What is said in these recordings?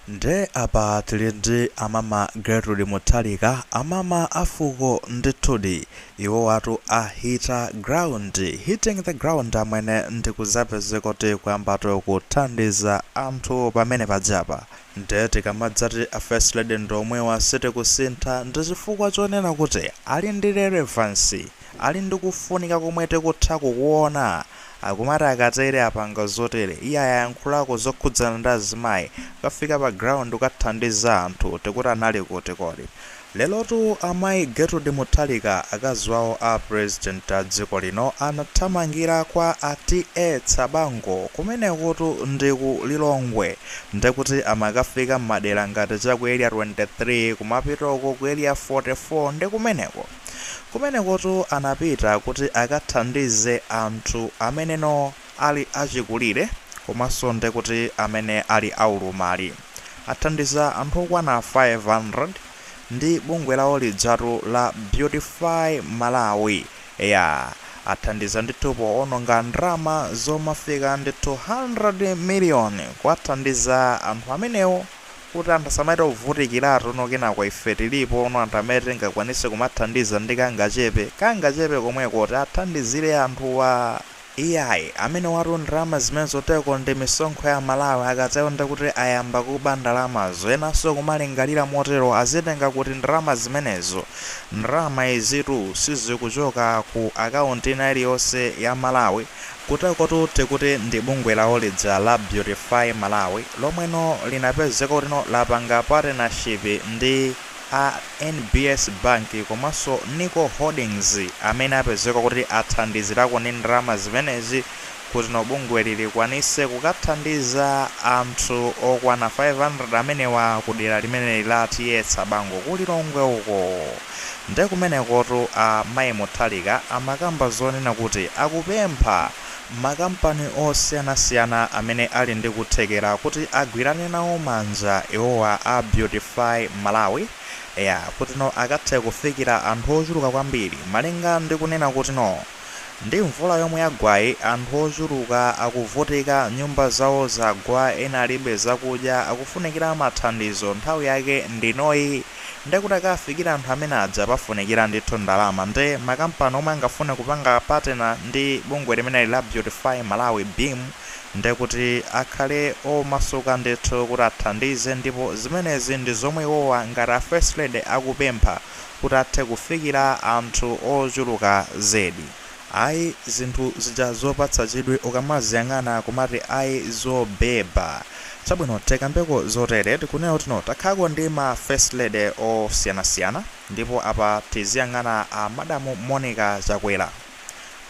Nde apa tili ndi amama Gertrude Mutharika, amama a fuko ndithudi, iwowatu ahita ground, hitting the ground amwene ndikuzapeze kuti kuyamba to kuthandiza anthu pamene pajapa. Nde tikamadzati a first lady ndi omwewa sitikusintha ndi chifukwa chonena kuti ali ndi relevancy, ali ndi kufunika komwe tikutha kukuona Akumati akatere apanga zotere. Iye ayayankhulako zokhudzana ndi azimayi. Kafika pa ground kathandiza anthu. Tikuti anali kuti kodi. Lerotu amayi Gertrude Mutharika akazi wawo a president a dziko lino anathamangira kwa a TA Tsabango. Kumenekutu ndi ku Lilongwe. Nde kuti amakafika mmadera ngati cha ku area 23, kumapita uko ku area 44 ndi kumeneko. Kumenekotu anapita kuti akathandize anthu ameneno ali achikulire komanso nde kuti amene ali aulumali. Athandiza anthu okwana 500 ndi bungwe lawo lijatu la Beautify Malawi. Eya, athandiza ndithu poononga ndalama zomafika ndi 200 miliyoni kuwathandiza anthu amenewo kuti anthu asamachite kuvutikiratu no kenaka ife tilipono anthu amene tingakwanise kumathandiza ndi kangachepe, kangachepe komweko tiathandizire anthuwa iyayi amenewatu ndalama zimenezo kuteko ndi misonkho ya Amalawi akatero nde kuti ayamba kuba ndalamazo enanso kumalingalira motero azitenga kuti ndalama zimenezo? ndalama izitu sizikuchoka ku account ina iliyonse ya Malawi Kuteko tu tikuti ndi bungwe lawo lija la Beautify Malawi lomweno linapezeka kutino lapanga patenashipi ndi a NBS Bank komanso Nico Holdings amene apezeka kuti athandizirako ndi ndalama zimenezi kutino bungweli likwanise kukathandiza anthu okwana 500 amenewa kudera limeneli la T.A Tsabango ku Lilongwe uko. Nde kumenekotu amayi Mutharika amakamba zonena kuti akupempha makampani osiyanasiyana amene ali ndi kuthekera kuti agwirane nawo manja iwowa a Beautify Malawi eya kutino akathe kufikira anthu ochuluka kwambiri malinga ndi kunena kutino ndi mvula yomwe yagwayi anthu ochuluka akuvutika nyumba zawo zagwa ena alibe zakudya akufunikira mathandizo nthawi yake ndinoyi nde kuti akawafikire anthu amene aja pafunikira ndithu ndalama nde makampani omwe angafune kupanga partner ndi bungwe limeneli la Beautify Malawi, BEAM, nde kuti akhale omasuka ndithu kuti athandize ndipo zimenezi ndi zomwe iwowa ngati a First Lady akupempha kuti athe kufikira anthu ochuluka zedi. Ayi zinthu zija zopatsa chidwi ukamaziyang'ana kumati ayi zobheba. Chabwino tikambeko zotere tikunena kuti no takhako ndi ma first lady osiyanasiyana ndipo apa tiziyang'ana a madamu Monica Chakwera.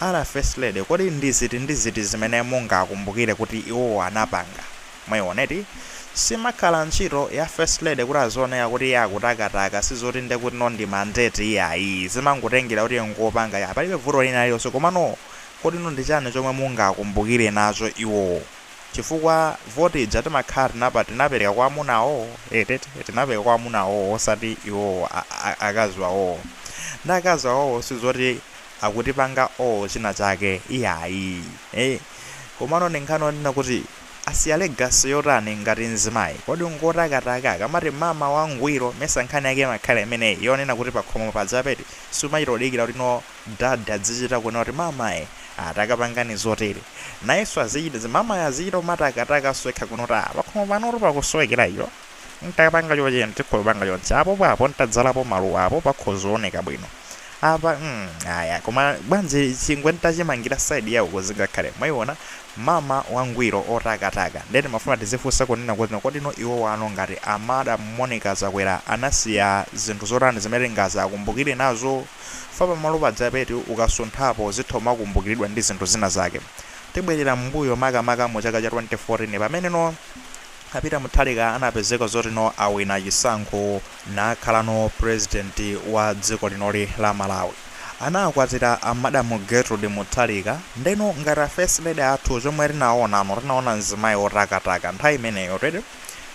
A First lady kodi ndi ziti ndi ziti zimene mungakumbukire kuti iwowo anapanga? Mwaiona eti? Simakhala ntchito ya First Lady kuti azioneka kuti iye akutakataka, si zoti nde kuti no ndi mandate iyayi. Zimangotengera kuti iye ngopanga kaya palibe vuto lina lililonse komano kodi no ndi chani chomwe mungakumbukire nacho iwowo? Chifukwa voti ija timakhala tinapa tinapereka kwa amuna awowo eti eti tinapereka kwa amuna awowo osati iwowo a a akazi awowo. Nde akazi awowo si zoti akutipanga owe china chake iyayi. Eeh komano ndi nkhani yonena kuti. Asiya legacy yotani ngati mzimayi? Kodi ngotakataka? Akamati mama wangwiro mesa nkhani yake imakhala imeneyi yonena kuti pakhomo pajapeti sumachita kudikira kuti no dad adzichita kuona kuti mamayi ah takapangani zotere. Nayenso azichita, mamayo azichita kumatakatakanso yekha kuona kuti ah pakhomo panotu pakusowekera icho. ntakapanga choche ntakhala ndapanga chonchi apo papo ntadzalapo maluwa apo pakhoza kuoneka bwino apa mm, aya koma bwanji chingwe ntachimangira side ya uko zingakhale mwayiona mama wangwiro otakataka nde timafuna tizifunsa kunena kuti kodi no iwowa no ngati a madam Monica Chakwera anasiya zinthu zotani zimene tingazawakumbukire nazo fa pamalo pajapeti ukasunthapo zitha umakumbukiridwa ndi zinthu zina zake tibwerera m'mbuyo makamaka mu chaka cha 2014 pameneno A Peter Mutharika anapezeka zoti no awina chisankho nakhala no president wa dziko linoli la Malawi. Anakwatira a Madam Gertrude Mutharika ndeno ngati a first lady athu chomwe tinaona no tinaona mzimayi otakataka nthawi imeneyotu eti.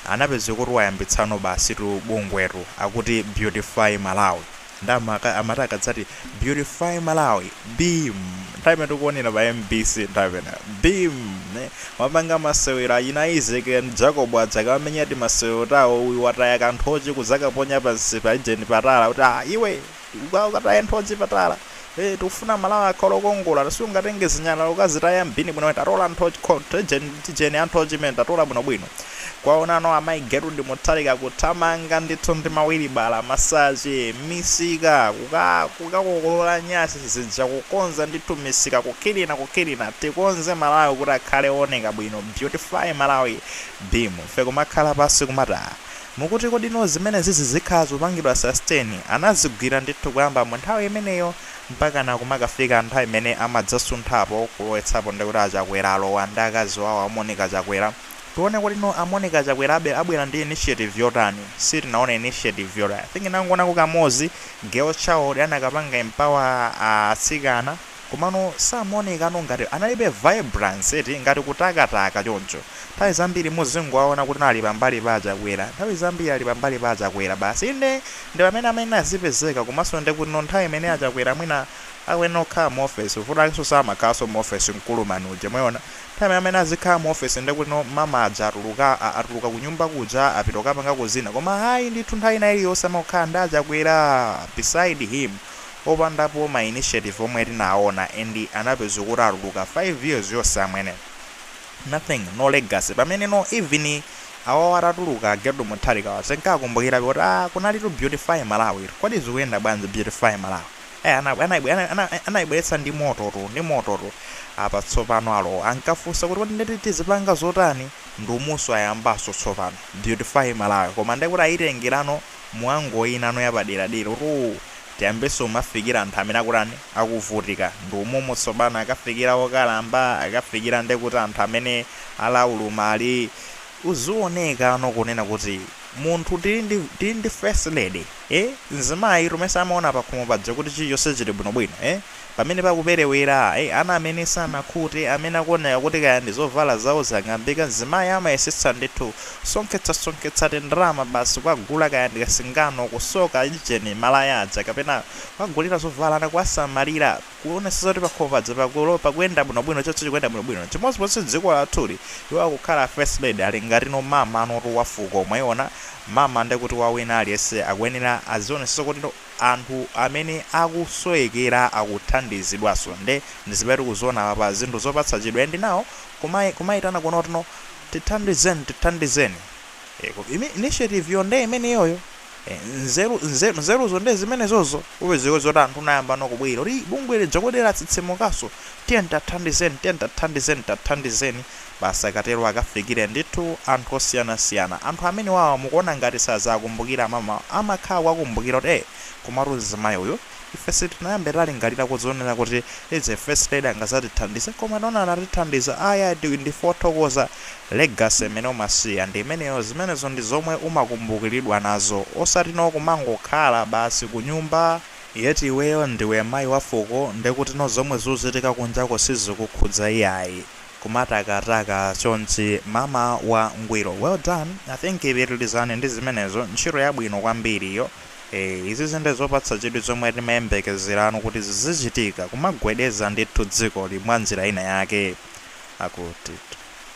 Anapezeka kuti wayambitsa no basitu bungwetu akuti Beautify Malawi. nde amaka- amati akadzati beautify malawi beam nthawi imene tikuonera pa mbc nthawi imene beam eh, wapanga masewero achina Izeki ndi Jakobo adzakamenya ti masewero tawo uyu wataya khoko la nthochi kuzakaponya pansi pa ujeni patala kuti ah iwe uka- ukataya nthochi patala ee tikufuna malawi akhale okongola siungatenge zinyalala ukazitaya m'bini bwino watola nthochi ko- tijeni tijeni ta nthochi mmene watola bwinobwino kuwaona no amayi Gertrude Mutharika kuthamanga ndithu ndi mawilibala masache misika kuka- kukakokolola nyasi zija kukonza ndithu misika kukilina kukilina tikonze malawi kuti akhale ooneka bwino beautify malawi beam ife kumakhala pansi kumata Mukuti kodi no zimenezi zizikhala zopangidwa sustain? Anazigwira ndithu kuyamba mu nthawi imeneyo mpakana kumakafika nthawi imene amadzasunthapo kulowetsapo ndi kuti a Chakwera alowa ndi akazi wawo a Monica Chakwera. Tione kodi no a Monica Chakwera abwera ndi initiative yotani? Sitinaone initiative yot I think ndinangoonako kamodzi girl child anakapanga empower a atsikana. Komano samaoneka ngati analibe vibrance eti ngati kutakataka choncho. Nthawi zambiri muzingowaona kuti ali pambali pa achakwera. Nthawi zambiri ali pambali pa achakwera basi. Inde ndipamene amayenera azipezeka komanso ndekuti nthawi imene achakwera mwina akuyenera kukhala mu office. Vuto lakenso samakhalaso mu office mkulu uja mwayiona. Nthawi imene amene azikhala mu office ndekuti mama aja atuluka atuluka kunyumba kuja apita kukapangako zina. Koma ayi ndithu nthawi ina iliyonse amangokhala ndi achakwera beside him. opandapo ma initiative omwe tinaona and anapezeka kuti atuluka 5 years yonse amwene nothing no legacy pamene no even awawa atatuluka getrude mutharika ankakumbukirabe kuti ah kunalitu beautify malawi tu kodi zikuyenda bwanji beautify malawi eh anabwe- anayibwe- ana- ana- eh, anayibweretsa ndi mototu ndi mototu apa tsopano alowa akafunsa kuti kodi nditi tizipanga zotani ndi umunso ayambanso tsopano beautify malawi koma ndekuti ayitengerano mwa ngati inano yapaderadera kuti tiyambeso kumafikira anthu amene akutani akuvutika ndi umumu tsopano akafikira okalamba akafikira nde kuti anthu amene ali aulumali uzionekano kunena kuti munthu tili ndi tili ndi first lady ee nzimayitu mesa amaona pakhomo paja kuti chilichose chili bwinobwino ee Pamene pakuperewera, ayi, ana amene sanakhute, amene akuoneka kuti kaya ndi zovala zawo zang'ambika, mzimayi amayesetsa ndithu, sonkhetsasonkhetsa tindalama basi kukagula kaya ndi kasingano, kusoka ujeni, malaya aja, kapena kukagulira zovala ana, kuwasamalira, kuonetsetsa kuti pakhomo paja pakulo, pakuyenda bwinobwino, chonse chikuyenda bwinobwino. Chimodzimodzinso dziko lathuli, iwo akukhala first lady, ali ngatino mamanotu, wa fuko, mwaiona, mama, ndiye kuti wa wina aliyense, akuyenera azionetsetsa kuti no. anthu amene akusowekera akuthandizidwaso nde ndi zimene tikuziona apapa zinthu zopatsa chidwi and now kumai kumaitana kunena kuti tithandizeni tithandizeniko imi initiative yo nde imeneyoyo e nzeru nzeru nzeruzo nde zimenezozo upezeke zoti anthu ayambano kubwera kuti bungwe lija kodi latsitsimukaso tiyeni tathandizeni tiyeni tathandizeni tathandizeni Basi akatero akafikire ndithu anthu osiyanasiyana. Anthu amenewawa mukuona ngati sazawakumbukira mamawa? Amakhala kuwakumbukira kuti ee komatu mzimayi uyu ife sitinayambe talingalira kuzionera kuti izi first lady angazatithandize koma taona anatithandiza ayi ayi ndife othokoza legacy imene umasiya ndi imeneyo zimenezo ndi zomwe umakumbukiridwa nazo osatino kumangokhala basi kunyumba yet iweyo ndiwe mayi wa fuko ndekutino zomwe zuzitika kunjako sizikukhudza iyayi. kumatakataka chonchi mama wa ngwiro well done i think pitilizani ndi zimenezo ntchito yabwino kwambiri iyo, izizi nde zopatsa chidwi zomwe timayembekezerano kuti zizichitika kumagwedeza ndithu dzikoli mwa njira ina yake akuti